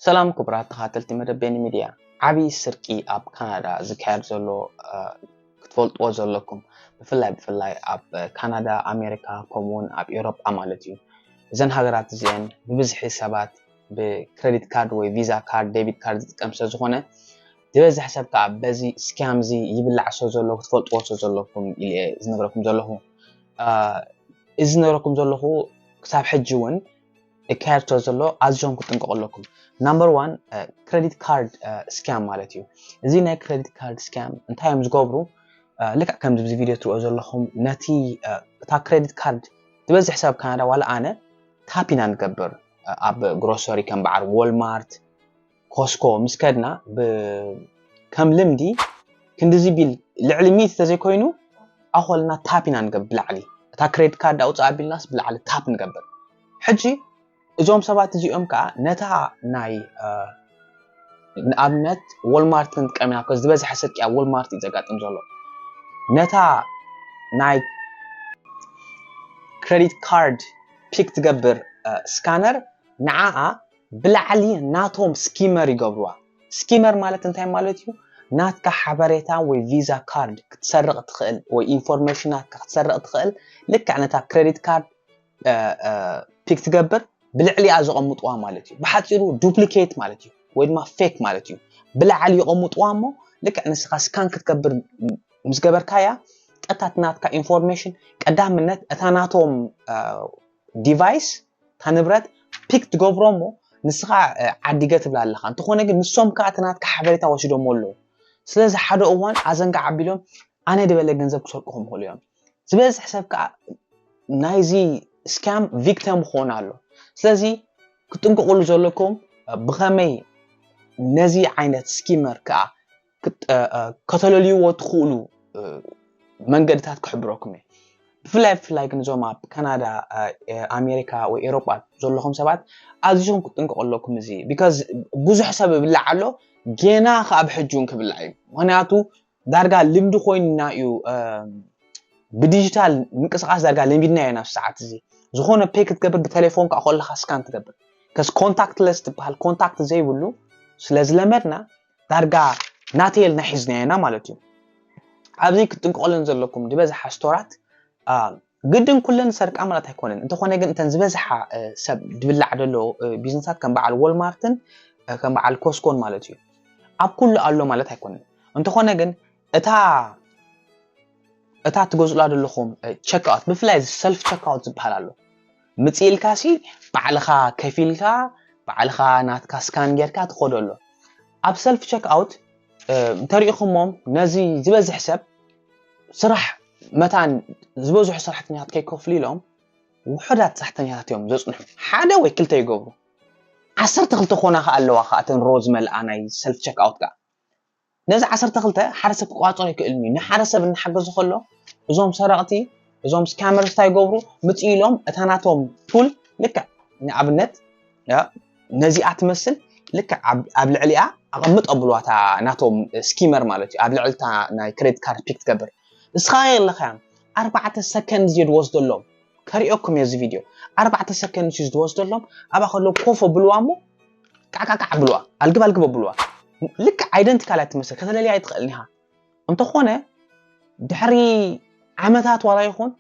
ሰላም ክቡራት ተኻተልቲ መደብ ቤኒ ሚድያ ዓብዪ ስርቂ ኣብ ካናዳ ዝካየድ ዘሎ ክትፈልጥዎ ዘለኩም ብፍላይ ብፍላይ ኣብ ካናዳ ኣሜሪካ ከምኡ እውን ኣብ ኤውሮጳ ማለት እዩ እዘን ሃገራት እዚአን ብብዝሒ ሰባት ብክሬዲት ካርድ ወይ ቪዛ ካርድ ዴቢት ካርድ ዝጥቀም ስለ ዝኾነ ዝበዝሕ ሰብ ከዓ በዚ ስካም እዚ ይብላዕ ስለ ዘሎ ክትፈልጥዎ ስለ ዘለኩም ኢለ ዝነግረኩም ዘለኹ እዚ ዝነግረኩም ዘለኹ ክሳብ ሕጂ እውን ሊካየድቶ ዘሎ ኣዝዮም ክጥንቀቑ ኣለኩም ናምበር ዋን ክሬዲት ካርድ ስካም ማለት እዩ እዚ ናይ ክሬዲት ካርድ ስካም እንታይ እዮም ዝገብሩ ልክዕ ከምዚ ብዚ ቪድዮ ትሪኦ ዘለኹም ነቲ እታ ክሬዲት ካርድ ዝበዝሕ ሰብ ካናዳ ዋላ ኣነ ታፕ ኢና ንገብር ኣብ ግሮሰሪ ከም በዓል ዎልማርት ኮስኮ ምስ ከድና ከም ልምዲ ክንድዚ ቢል ልዕሊ ሚት ተዘይኮይኑ ኣኾልና ታፕ ኢና ንገብር ብላዕሊ እታ ክሬድ ካርድ ኣውፅኣ ቢልናስ ብላዕሊ ታፕ ንገብር ሕጂ እዞም ሰባት እዚኦም ከዓ ነታ ናይ ንኣብነት ወልማርት ክንጥቀም ኢና ኮ ዝበዝሐ ስርቂ ኣብ ወልማርት እዩ ዘጋጥም ዘሎ ነታ ናይ ክሬዲት ካርድ ፒክ ትገብር ስካነር ንዓኣ ብላዕሊ ናቶም ስኪመር ይገብርዋ ስኪመር ማለት እንታይ ማለት እዩ ናትካ ሓበሬታ ወይ ቪዛ ካርድ ክትሰርቕ ትኽእል ወይ ኢንፎርሜሽናትካ ክትሰርቕ ትኽእል ልክዕ ነታ ክሬዲት ካርድ ፒክ ትገብር ብልዕሊኣ ዘቐምጥዋ ማለት እዩ ብሓፂሩ ዱፕሊኬት ማለት እዩ ወይ ድማ ፌክ ማለት እዩ ብላዕሊ ይቐምጥዋ እሞ ልክዕ ንስኻ ስካን ክትገብር ምስ ገበርካያ ቀጥታ ናትካ ኢንፎርሜሽን ቀዳምነት እታ ናቶም ዲቫይስ እታ ንብረት ፒክ ትገብሮ እሞ ንስኻ ዓዲገ ትብላ ኣለኻ እንተኾነ ግን ንሶም ከዓ እቲ ናትካ ሓበሬታ ወሲዶሞ ኣለዉ ስለዚ ሓደ እዋን ኣዘንጋ ዓቢሎም ኣነ ድበለ ገንዘብ ክሰርቁኹም ይኽእሉ እዮም ዝበዝሕ ሰብ ከዓ ናይዚ ስካም ቪክተም ክኾን ኣሎ ስለዚ ክትጥንቀቕሉ ዘለኩም ብኸመይ ነዚ ዓይነት ስኪመር ከዓ ከተለልይዎ ትኽእሉ መንገድታት ክሕብረኩም እየ ብፍላይ ብፍላይ ግን እዞም ኣብ ካናዳ ኣሜሪካ ወይ ኤሮጳ ዘለኹም ሰባት ኣዝኹም ክጥንቀቑ ኣለኩም እዚ ቢካዝ ብዙሕ ሰብ ይብላዕ ኣሎ ጌና ከዓ ኣብ ሕጂ እውን ክብላዕ እዩ ምክንያቱ ዳርጋ ልምዲ ኮይንና እዩ ብዲጂታል ምንቅስቃስ ዳርጋ ለሚድና ኢና ኣብ ሰዓት እዚ ዝኾነ ፔ ክትገብር ብቴሌፎን ከዓ ከለካ ስካን ትገብር ከስ ኮንታክትለስ ትበሃል ኮንታክት ዘይብሉ ስለዝለመድና ዳርጋ ናተይ ኢልና ሒዝናዮ ኢና ማለት እዩ። ኣብዚ ክትጥንቀቐለን ዘለኩም ዝበዝሓ ስቶራት ግድን ኩለን ሰርቃ ማለት ኣይኮነን። እንተኾነ ግን እተን ዝበዝሓ ሰብ ድብላዕ ዘሎ ቢዝነሳት ከም በዓል ወልማርትን ከም በዓል ኮስኮን ማለት እዩ። ኣብ ኩሉ ኣሎ ማለት ኣይኮነን። እንተኾነ ግን እታ እታ ትገዝኡላ ዘለኹም ቸክኣውት ብፍላይ ሰልፍ ቸክኣውት ዝበሃል ኣሎ ምጽእ ኢልካሲ ባዕልኻ ከፊልካ ባዕልኻ ናትካ ስካን ጌርካ ትኸዶ ኣሎ ኣብ ሰልፍ ቸክ ኣውት እንተሪኢኹሞም ነዚ ዝበዝሕ ሰብ ስራሕ መታን ዝበዝሑ ሰራሕተኛታት ከይከፍሉ ኢሎም ውሑዳት ሰራሕተኛታት እዮም ዘጽንሑ ሓደ ወይ ክልተ ይገብሩ ዓሰርተ ክልተ ኮና ከ ኣለዋ ከ እተን ሮ ዝመልኣ ናይ ሰልፍ ቸክ ኣውት ከኣ ነዚ ዓሰርተ ክልተ ሓደ ሰብ ክቋጸሮ ኣይክእልን እዩ ንሓደ ሰብ እናሓገዞ ከሎ እዞም ሰረቕቲ እዞም ስካመርስ እንታይ ይገብሩ ምጽእ ኢሎም እታ ናቶም ፑል ልክዕ ንኣብነት ነዚኣ ትመስል ልክዕ ኣብ ልዕሊኣ ኣቐምጥ ኣብልዋ እታ ናቶም ስኪመር ማለት እዩ ኣብ ልዕልታ ናይ ክሬዲት ካርድ ፒክ ትገብር እስኻ የለኸያ ኣርባዕተ ሰከንድ ዝየድወስደሎም ከሪኦኩም እየ እዚ ቪድዮ ኣርባዕተ ሰከንድ እዩ ዝወስደሎም ኣብኣ ከለዉ ኮፍ ኣብልዋ እሞ ቃዕቃዕቃዕ ኣብልዋ ኣልግብ ኣልግብ ኣብልዋ ልክዕ ኣይደንቲካል እያ ትመስል ከተለልያ ኣይትኽእልን ኢኻ እንተኾነ ድሕሪ ዓመታት ዋላ ይኹን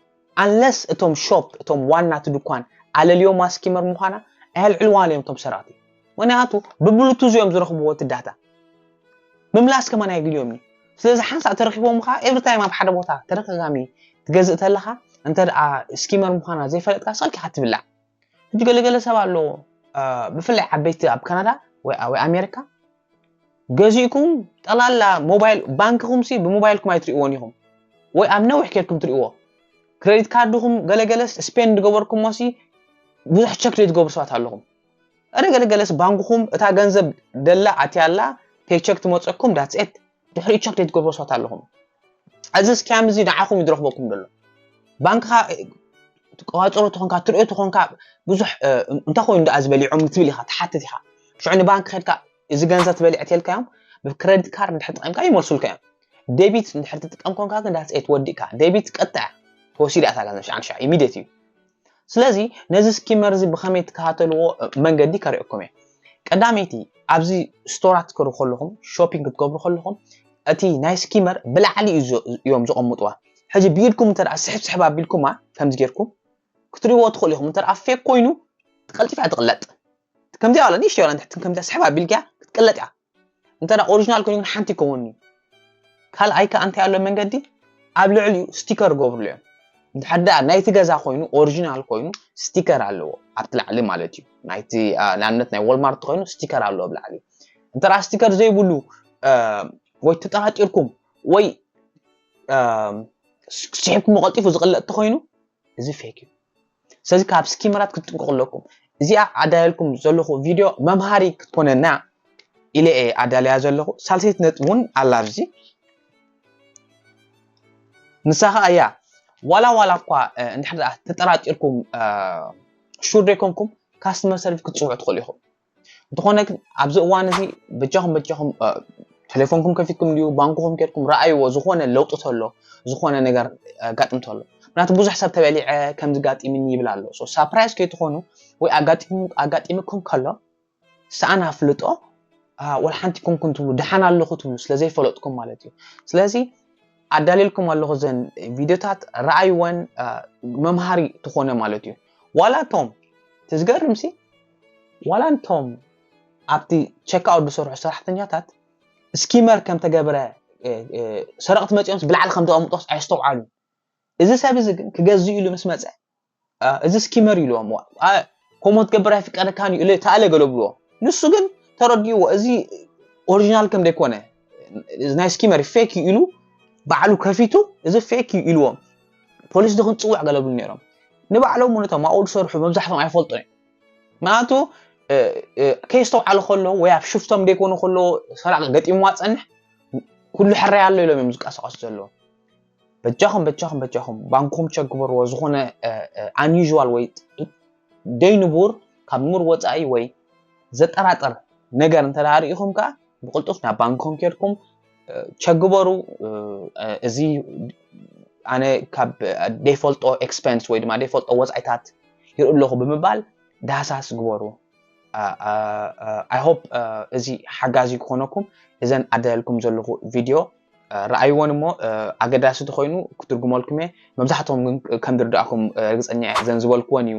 ኣንለስ እቶም ሾፕ እቶም ዋና እቲ ድኳን ኣለልዮ ማስኪመር ምዃና ኣየልዕልዋን እዮም እቶም ሰራቲ ምክንያቱ ብብሉቱዝ እዮም ዝረኽብዎ እቲ ዳታ ምምላስ ከማን ኣየድልዮም እዩ ስለዚ ሓንሳእ ተረኪቦም ከዓ ኤቭሪ ታይም ኣብ ሓደ ቦታ ተደጋጋሚ ትገዝእ ተለኻ እንተ ስኪመር ምዃና ዘይፈለጥካ ሰኪኻ ትብላዕ ሕጂ ገለገለ ሰብ ኣሎ ብፍላይ ዓበይቲ ኣብ ካናዳ ወይ ኣሜሪካ ገዚእኩም ጠላላ ሞባይል ባንክኹም ሲ ብሞባይልኩም ኣይትሪእዎን ኢኹም ወይ ኣብ ነዊሕ ኬድኩም ትሪእዎ ክሬዲት ካርድኹም ገለገለስ ስፔንድ ገበርኩሞ ሲ ብዙሕ ቸክ ዘይትገብሩ ሰባት ኣለኹም ገለገለገለስ ባንክኹም እታ ገንዘብ ደላ ኣትያላ ፔቸክ ትመፀኩም ዳትሴት ድሕሪ ቸክ ዘይትገብሮ ሰባት ኣለኹም እዚ ስኪያም እዚ ንዓኹም እዩ ዝረኽበኩም ዘሎ ባንክኻ ትቀዋፅሮ ትኾንካ ትሪኦ ትኾንካ ብዙሕ እንታይ ኮይኑ ደኣ ዝበሊዖም ትብል ኢኻ ትሓትት ኢኻ ሽዑ ንባንክ ከድካ እዚ ገንዘብ ትበልዕ ተልካዮም ብክሬዲት ካርድ ድሕር ጥቐምካ ይመልሱልካ እዮም ዴቢት ድሕር ትጥቀም ኮንካ ግን ዳትስ ኤት ወዲእካ ዴቢት ቀጥታ ተወሲዳ እታ ገንዘብ ሸዓን ሸዓ ኢሚድት እዩ ስለዚ ነዚ ስኪመር እዚ ብኸመይ ትከታተልዎ መንገዲ ከርእየኩም እየ ቀዳመይቲ ኣብዚ ስቶራት ክትከዱ ከለኹም ሾፒንግ ክትገብሩ ከለኹም እቲ ናይ ስኪመር ብላዕሊ እዮም ዘቐምጥዋ ሕጂ ብኢድኩም እንተ ስሕብ ስሕብ ኣቢልኩማ ከምዚ ጌርኩም ክትሪእዎ ትኽእሉ ኢኹም እንተ ፌክ ኮይኑ ትቀልጢፍ እያ ትቕለጥ ከምዚኣ ዋላ ንእሽተይ ዋላ ንትሕቲ ከምዚኣ ስሕብ ኣቢልካ ክትቅለጥ እያ እንተ ኦሪጂናል ኮይኑ ግን ሓንቲ ይከውን እዩ ካልኣይ ከ እንታይ ኣሎ መንገዲ ኣብ ልዕሊኡ ስቲከር ገብርሉ እዮም እንድሕር ደኣ ናይቲ ገዛ ኮይኑ ኦሪጂናል ኮይኑ ስቲከር ኣለዎ ኣብቲ ላዕሊ ማለት እዩ ናይቲ ንኣብነት ናይ ወልማርት ኮይኑ ስቲከር ኣለዎ ኣብ ላዕሊ እንተ ስቲከር ዘይብሉ ወይ ተጠራጢርኩም ወይ ስሒብኩም ቀልጢፉ ዝቕለጥ ተኮይኑ እዚ ፌክ እዩ ስለዚ ካብ ስኪመራት ክትጥንቀቁ ኣለኩም እዚኣ ኣዳልኩም ዘለኹ ቪድዮ መምሃሪ ክትኮነና ኢለ እየ ኣዳልያ ዘለኹ ሳልሰይቲ ነጥቢ እውን ኣላ ኣብዚ ንሳ ከዓ እያ ዋላ ዋላ እኳ እንድሕር ተጠራጢርኩም ሹር ዘይኮንኩም ካስተመር ሰርቪስ ክትፅውዑ ትኽእሉ ኢኹም እንተኾነ ግን ኣብዚ እዋን እዚ በጃኹም በጃኹም ቴሌፎንኩም ከፊትኩም ድዩ ባንኩኹም ኬድኩም ረኣይዎ ዝኾነ ለውጢ ተሎ ዝኾነ ነገር ኣጋጥም ተሎ ምክንያቱ ብዙሕ ሰብ ተበሊዐ ከምዚ ጋጢምኒ ይብል ኣሎ ሳፕራይዝ ከይትኾኑ ወይ ኣጋጢምኩም ከሎ ሰኣን ኣፍልጦ ወላ ሓንቲ ኮንኩን ትብሉ ደሓን ኣለኹ ትብሉ ስለዘይፈለጥኩም ማለት እዩ ስለዚ ኣዳልልኩም ኣለኹ ዘን ቪድዮታት ረኣይወን መምሃሪ ትኾነ ማለት እዩ ዋላ ቶም ትዝገርምሲ ዋላ እንቶም ኣብቲ ቸክኣውት ዝሰርሑ ሰራሕተኛታት ስኪመር ከም ተገብረ ሰረቕቲ መጺኦምስ ብላዕሊ ከም ዘቐምጦስ ኣየስተውዓሉን። እዚ ሰብ እዚ ግን ክገዝእ ኢሉ ምስ መጸ እዚ ስኪመር ኢሉዎም ከምኡ ክትገብር ኣይፍቀደካን እዩ ተኣለ ገሎ ብልዎ ንሱ ግን ተረዲእዎ እዚ ኦሪጂናል ከም ዘይኮነ ናይ ስኪመር ፌክ እዩ ኢሉ ባዕሉ ከፊቱ እዚ ፌክ እዩ ኢሉዎም ፖሊስ ድክንፅውዕ ገለብሉ ነይሮም ንባዕሎም እውን እቶም ኣብኡ ዝሰርሑ መብዛሕቶም ኣይፈልጡን እዮም ምክንያቱ ከየስተውዓሉ ከለዉ ወይ ኣብ ሽፍቶም ደይኮኑ ከለዎ ሰራቂ ገጢምዋ ፀንሕ ኩሉ ሕራይ ኣሎ ኢሎም እዮም ዝቀሳቀሱ ዘለዉ በጃኹም በጃኹም በጃኹም ባንኮም ቸክ ግበርዎ ዝኾነ ኣንዩዥዋል ወይ ደይንቡር ካብ ንቡር ወፃኢ ወይ ዘጠራጥር ነገር እንተዳሪኢኹም ከዓ ብቅልጡፍ ናብ ባንኮም ኬድኩም ቸግበሩ እዚ ኣነ ካብ ደይፈልጦ ኤክስፐንስ ወይ ድማ ደይፈልጦ ወፃኢታት ይርኢ ኣለኹ ብምባል ዳህሳስ ግበሩ ኣይ ሆፕ እዚ ሓጋዚ ክኾነኩም እዘን ኣዳለልኩም ዘለኹ ቪድዮ ረኣይዎን እሞ ኣገዳሲ ተኮይኑ ክትርጉመልኩም እየ መብዛሕትኦም ግን ከም ዝርዳእኩም ርግፀኛ እየ እዘን ዝበልክወን እዩ